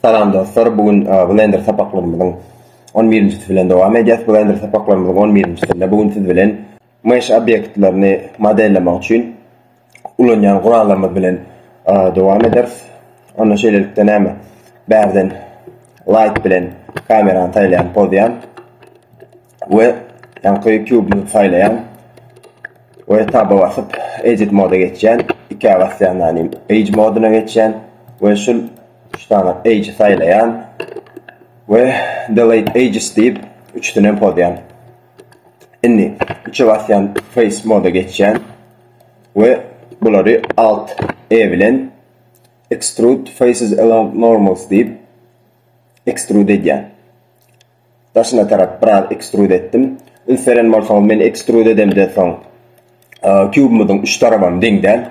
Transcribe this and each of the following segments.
Salam dostlar, bu gün Blender sapaklarymyzyň on birinjisi bilen dowam edýäs. Blender sapaklarymyzyň on birinjisinde bu gün siz bilen mesh obýektlerini modellemek üçin ulanýan gurallarymyz bilen dowam ederis. Onda şeýlelikde näme? Bärden light bilen kamerany saýlaýan, pozýan. we ýaňky kubyny saýlaýan we taba basyp edit moda geçýän ikä basýan ýaly age moduna geçýän we şu üç dana age saýlaýan we delete ages diýip üçüsini hem pozýan indi üçe basýan face moda geçýän we bulary alt e bilen extrude faces along normals diýip extrude edýän Daşyna tarap biraz ekstrud etdim. Üns beren bolsaňyz men ekstrud edemden soň kubymyzyň üç tarabam deň däl.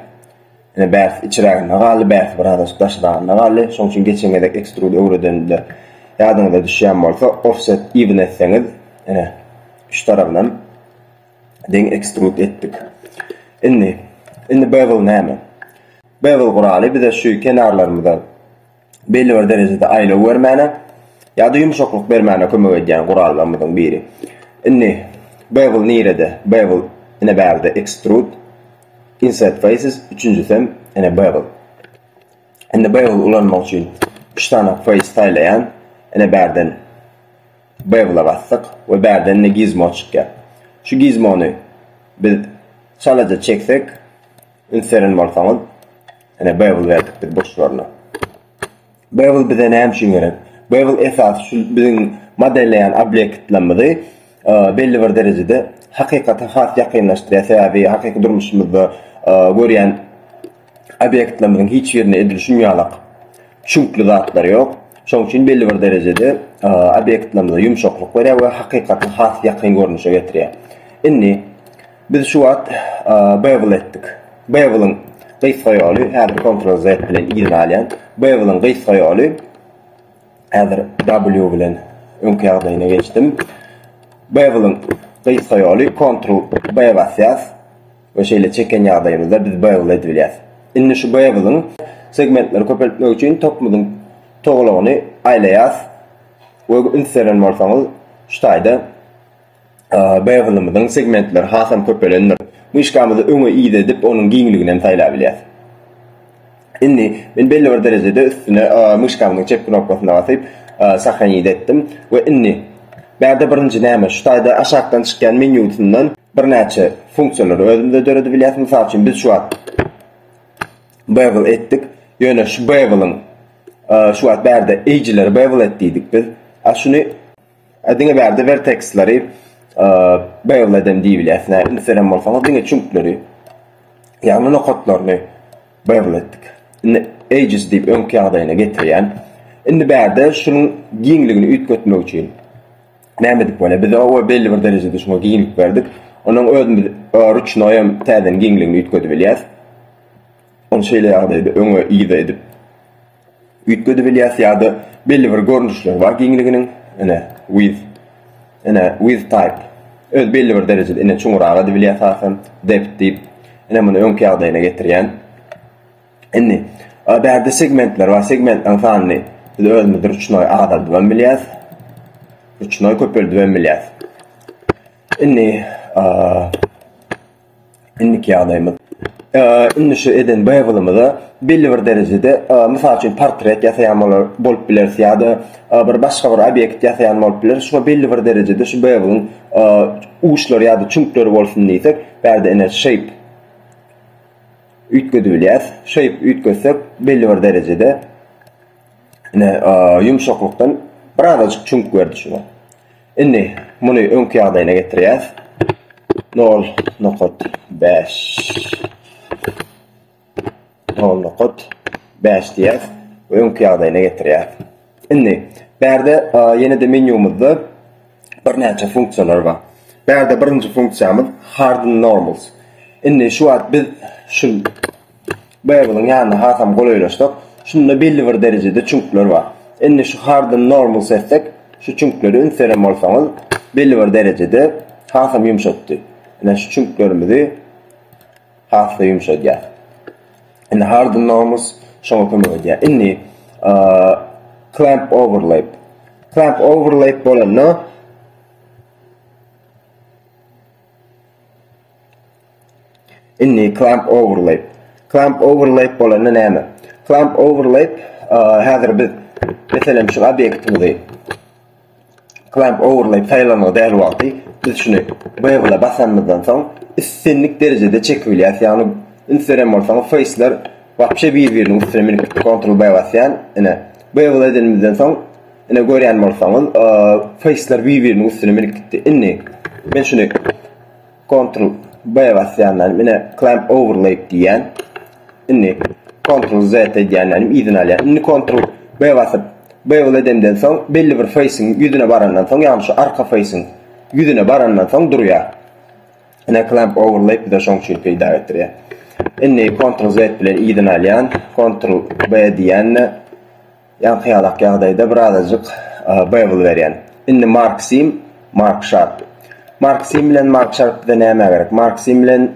Ine bärsi içiräginde galdy bärsi birazajyk daşyragynda galdy. Şoň üçin geçen gezek ekstrud öwredende ýadyňyza düşýän bolsa offset even etseňiz ine üç tarabynam deň ekstrud etdik. Indi indi bevel näme? Bevel guraly bize şu kenarlarymyza belli bir derejede aýlaw bermäne ýa-da ýumşaklyk bermäne kömek edýän gurallarymyzyň biri. Indi bevel nirede? Bevel ine bärde extrude insert faces, üçünjisi hem ine bevel. Indi bevel ulanmak üçin 3 sany face saýlaýan. Ine bärden bevel basdyk we bärden ine gizmo çykýar. Şu gizmony biz çalaja çeksek, Üns beren bolsaňyz, ine Babel berdik biz burçlaryny. Babel bize näme üçin gerek? Babel esasy şu biziň modelleýän obýektlerimizi belli bir derejede hakykata has ýakynlaşdyrýar. Sebäbi hakyky durmuşymyzda görýän obýektlerimiziň hiç birinde edil şunýalak çüňkli zatlar ýok. Şonuň üçin belli bir derejede obýektlerimize ýumşaklyk berýär we hakykaty has ýakyn görnüşe getirýär. Indi Biz şu wagt Bevel etdik. Bevel-iň gysga ýoly, häzir Ctrl Z bilen yzyny alýan. Bevel-iň gysga ýoly, häzir W bilen öňki ýagdaýyna geçdim. Bevel-iň gysga ýoly, Ctrl B basýas we şeýle çeken ýagdaýymyzda biz bevel edip bilýäs. Indi şu bevel-iň segmentleri köpeltmek üçin topumyzyň togalagyny aýlaýas we üns beren bolsaňyz şu taýda Beýgynymyzyň segmentleri hasam köpelendir. Myşkamyzy öňe-yza edip, onuň giňligini hem saýlabilýäs. Indi men belli bir derejede üstüne myşkamyzyň çep knopkasyna basyp, Sahranit etdim we indi Bärde birinji näme? Şu taýda aşakdan çykýan menýusyndan birnäçe funksiýalary özümize döredibilýäs. Mysal üçin, biz şu wagt Bevel etdik. Ýöne şu Beveliň şu wagt bärde eýjileri Bevel et diýdik biz. A şuny E diňe bärde verteksleri beýle edem diýilýär. Näme ünseren bolsaňyz diňe çüňkleri ýagny nokatlaryny beýle etdik. Indi edges diýip öňki ýagdaýyna getirýän. Indi bärde şunuň giňligini üýtgetmek üçin näme edip bolýar? Biz owa belli bir derejede şuňa giňlik berdik. Onuň özümiz rüçnoý hem täzeden giňligini üýtgedip bilýäs. Onu şeýle ýagdaýda öňe ýygy edip Üýtgedip bilýäs ýa-da belli bir görnüşleri bar giňliginiň. Ine, width. Ine, width type. Öz belli bir derejede ine çuňurak edip bilýäs hasam. Depth diýip. Ine muny öňki ýagdaýyna getirýän. Indi a bärde segmentler bar. Segmentleriň sanyny biz özümiz ruçnoý azaldyp hem bilýäs. Ruçnoý köpeldip hem bilýäs. Indi a Indiki ýagdaýymyz. Indi şu eden boýagymyza belli bir derejede, mysal üçin, portret ýasaýan bolar bolup bileris ýa-da bir başga bir obýekt ýasaýan bolup bileris. Şuňa belli bir derejede şu boýagyň uçlary ýa-da çüňkleri bolsun diýsek, bärde ine shape üýtgedip bilýäs. Shape üýtgetsek, belli bir derejede ine ýumşaklykdan birazajyk çüňk berdi şuňa. Indi muny öňki ýagdaýyna getirýäs. Nol nokat bäş. Nol nokat bäş diýýäs we öňki ýagdaýyna getirýäs. Indi bärde ýene-de menýumyzda birnäçe funksiýalar bar. Bärde birinji funksiýamyz hard and normals. Indi şu wagt biz şu Babel-iň ýanyna hasam golaýlaşsak, şunda belli bir derejede çüňkler bar. Indi şu hardyn normal seslek şu çüňkleri üns beren bolsaňyz, belli bir derejede hasam ýumşatdy. Ine şu çüňklerimizi has-da ýumşadýar. Indi hardyn normal şoňa kömek edýär. Indi clamp overlap. Clamp overlap bolanda Indi clamp overlay. Clamp overlay bolanda näme? Clamp overlay häzir biz meselem şu obýektimizi clamp overlay saýlanygy däl wagty biz şuny bevel basanymyzdan soň islendik derejede çekip bilýäs. Ýagny üns beren bolsaňyz faceler wapşe bir-biriniň üstüne minip gitdi. Ctrl B basýan. Ine bevel edenimizden soň ine görýän bolsaňyz faceler bir-biriniň üstüne minip gitdi. Indi men şuny Kontrol B basýandan ine clamp overlaid diýýän. Indi kontrol Z edýändenim yzyny alýar. Indi kontrol B basyp bevel edemden soň belli bir facing ýüzüne barandan soň ýagny şu arka facing ýüzüne barandan soň durýar. Ine clamp overlaid bize şoň üçin peýda getirýär. Indi kontrol Z bilen yzyny alýan, kontrol B diýände Ýaňky-ýalak ýagdaýda birazajyk Bevel berýän. Indi Marksim, Mark Şarp. Marksim bilen Mark Şarp bize nämä gerek? Marksim bilen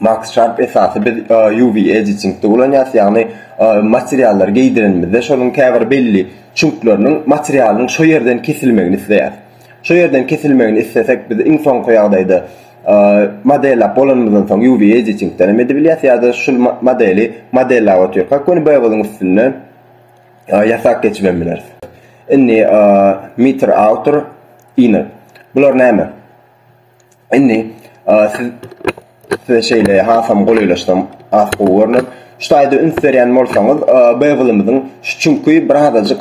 Mark Şarp esasy biz UV editingde ulanýarys, ýagny materiallary geýdirenimizde şonuň käbir belli çüňkleriniň materialyň şo ýerden kesilmegini isleýäris. Şo ýerden kesilmegini islesek biz iň soňky ýagdaýda Modellap bolanymyzdan soň UV editingden hem edibilýär ýa-da şul modeli modellap otyrkak göni boýagyň üstünde ýasap geçip hem bileris. Indi meter autor inner. Bular näme? Indi siz size şeýle hasam golaýlaşsam az gowy görner. Şu taýda üns berýän bolsaňyz, boýagymyzyň şu çünki birazajyk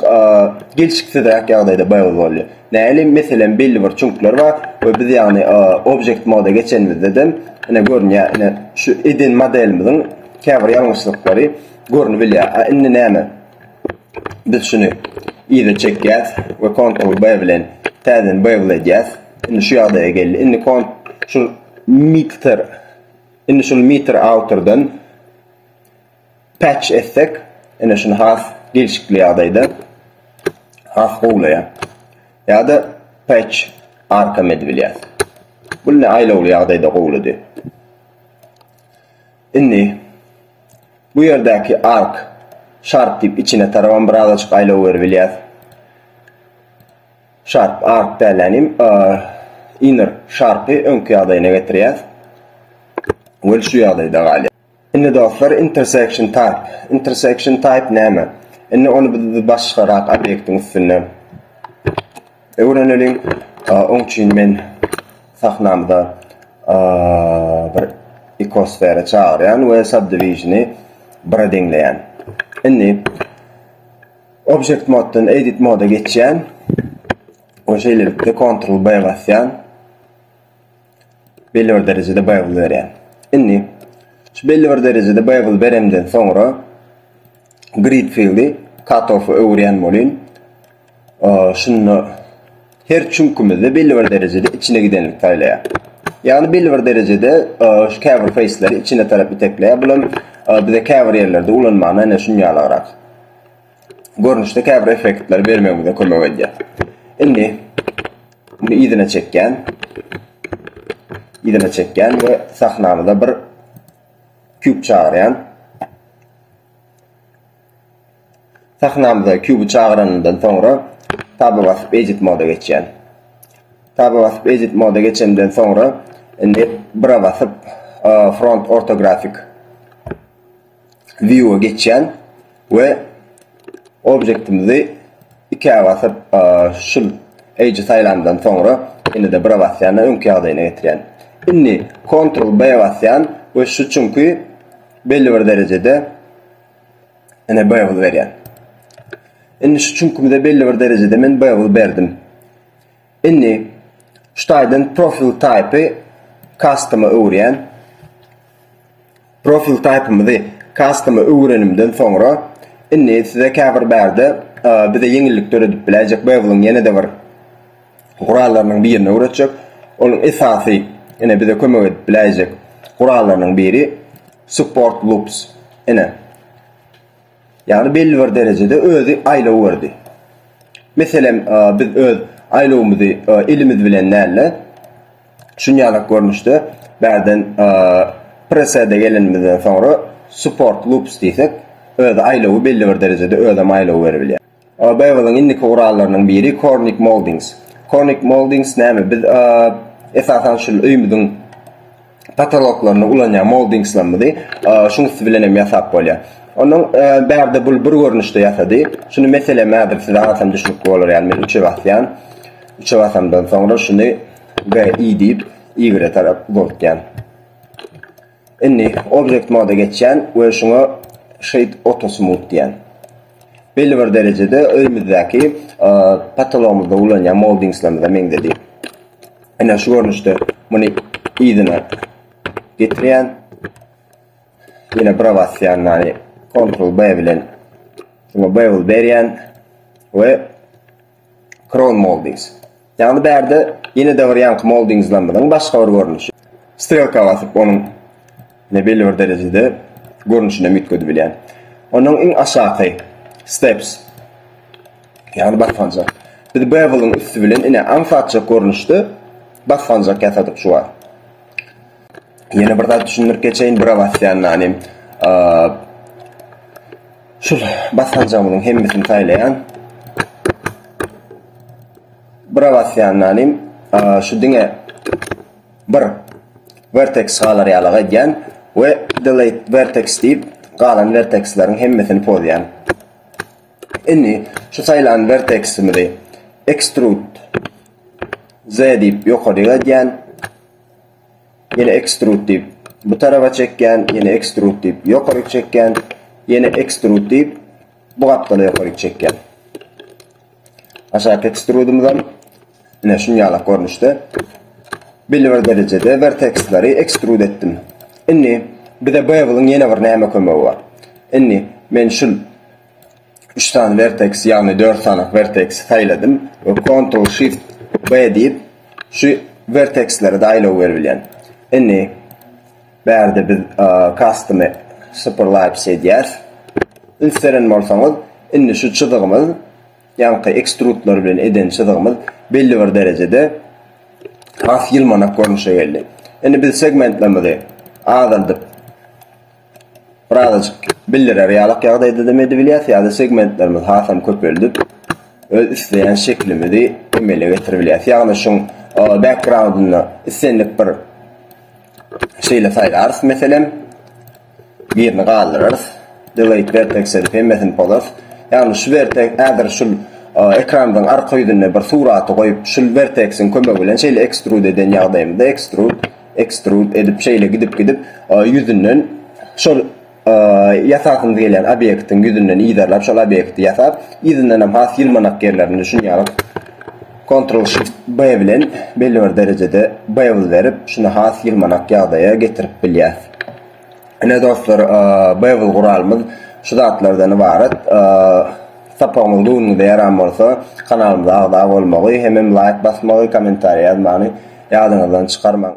gelşiksizräk ýagdaýda boýagy bolýar. Nälim, meselem, belli bir çüňkler bar we biz ýagny object moda geçenimizde-de ine görünýär, ine şu eden modelimiziň käbir ýalňyşlyklary görnüp bilýär. A indi näme? Biz şuny yza çekýäs we Ctrl B bilen täzeden bevel edýäs. Indi şu ýagdaýa geldi. Indi kont şu meter indi şu meter awtordan Patch etsek, ine şuny has gelşikli ýagdaýda has gowlaýar. Ýa-da patch arkam edip bilýäs. Bu indi aýlawly ýagdaýda gowlady. Indi bu ýerdäki ark sharp diýip içine tarabam birazajyk aýlaw berip bilýäs. Sharp ark däl änim inner sharpy öňki ýagdaýyna getirýäs. Ol şu ýagdaýda galýar. Indi dostlar intersection type. Intersection type näme? Indi ony biz başgarak obýektiň üstünde öwreneliň. Oň üçin men sahnamda bir ikosfera çagyrýan we subdivisioni 1-e deňleýän. Indi object moddan edit moda geçýän we şeýlelikde ctrl B basýan. belli bir derejede baýgul berýär. Indi şu belli bir derejede baýgul beremden soňra grid fieldi katofa öwürýän bolýyn. Şunda her çüňkümizde belli bir derejede içine gidenlik saýlaýar. Ýagny belli bir derejede şu käbir faceleri içine tarap itekleýär. Bu hem bize käbir ýerlerde ulanmana ene şun ýalygrak. Görnüşde käbir effektleri bermegimize kömek edýär. Indi Muny yzyna çekýän. Yzyna çekýän we sahnamyza bir kub çagyrýan. Sahnamyza kuby çagyranymdan soňra taba basyp edit moda geçýän. Taba basyp edit moda geçenden soňra indi bira basyp front ortografik view-a geçýän we objektimizi ikä basyp şul edge saýlandan soňra ýene-de bira basýan öňki ýagdaýyna getirýän. Indi Ctrl B basýan we şu çünki belli bir derejede ene bevel berýän. Indi şu çünkimize belli bir derejede men bevel berdim. Indi şu taýdan profil type-y custom-a öwürýän. Profil type-ymyzy custom-a öwürenimden soňra indi size käbir bärde bize ýeňillik döredip biläýjek Babel-iň ýene-de bir gurallarynyň birini öwretjek. Onuň esasy ine bize kömek edip biläýjek gurallarynyň biri support loops. Ine. Ýagny belli bir derejede özi aýlaw berdi. Meselem, biz öz aýlawymyzy elimiz bilen däl-de, şunýalak görnüşde bärden presede gelenimizden soňra support loops diýsek, özi aýlawy belli bir derejede özem aýlaw beribilýär. BMG-niň indiki gurallarynyň biri Kornik Moldings. Kornik Moldings näme? Biz esasan şul öýmüziň patoloklarynda ulanýan moldingslerimizi şuň üsti bilen hem ýasap bolýar. Onuň bärde bul bir görnüşde ýasady. Şuny meselem häzir size atam düşnükli bolar ýaly men üçe basýan. Üçe basamdan soňra şuny BI diýip, ýigre tarap uzaltýan. Indi Object Mode-a geçýän we şuňa Shade Auto Smooth diýýän. Belli bir derejede öýmüzdäki patologymyzda ulanýan moldingslerimize meňzedi. Ene şu görnüşde muny yzyna getirýän. Ýene bura basýan, ýani Ctrl B bilen şuňa bevel berýän we Crown Moldings. Ýagny bärde ýene-de bir ýaňky moldingzlarymyzyň başga bir görnüşi. Strelka basyp onuň ine belli bir derejede görnüşini hem üýtgedibilýän. Onnoň iň aşaky Steps. Ýagny basganjak. Biz Bevel-iň üsti bilen ine aňsatjak görnüşde basganjak ýasadyk şu wagt. Ýene bir zat düşündirip geçeýin, bura basýan ýaly şu basganjagymyň hemmesini saýlaýan. Bura basýan ýaly şu diňe bir vertex galar ýaly gaýdýan we delete vertex diýip galan vertexleriň hemmesini pozýan. Indi şu saýlan verteximizi extrude z diýip ýokaryk edýän. Ýene ekstrud diýip, bu taraba çekýän, ýene ekstrud diýip, ýokaryk çekýän, ýene ekstrud diýip, bu gapdala ýokaryk çekýän. Aşaky ekstrudymyz hem ine şunýalak görnüşde. Belli bir derejede werteksleri ekstrud etdim. Indi bize bevel-iň ýene bir näme kömegi bar? Indi men şul Üç sany verteks, ýagny dört sany verteksi saýladym we Ctrl Shift B diýip, şu vertekslere daýlaw berip bilýän. Indi bärde biz custom superlapse edýäs. Üns beren bolsaňyz, indi şu çyzygymyz, ýaňky ekstrudlar bilen eden çyzygymyz belli bir derejede has ýylmanak görnüşe geldi. Indi biz segmentlerimizi azaldyp birazajyk bildirer ýalak ýagdaýda hem edibilýär, ýa-da segmentlerimizi hasam köpeldip, öz isleýän şeklimizi emele getirip bilýäris. Ýagny şuň background-ynda islendik bir şeýle saýlarys, meselem, birini galdyrarys, delete vertex edip hemmesini pozarys. Ýagny şu wertek häzir şul ekranymyzyň arka ýüzünde bir suraty goýup, şul wertex-iň kömegi bilen şeýle extrude eden ýagdaýymyzda extrude Ekstrud edip şeýle gidip gidip ýüzünden şol ýasasymyz gelýän obýektiň ýüzünden yzarlap şol obýekti ýasap yzyndanam has ýylmanak ýerlerini düşünýäňiz kontrol shift B bilen belli bir derejede bevel berip şuny has ýylmanak ýagdaýa getirip bilýäs. Ine dostlar bevel guralymyz şu zatlardan ybarat. Sapagymyz göwnüňize ýaran bolsa kanalymyza agza bolmagy hemem laýk basmagy kommentariýa ýazmany ýadyňyzdan çykarmaň.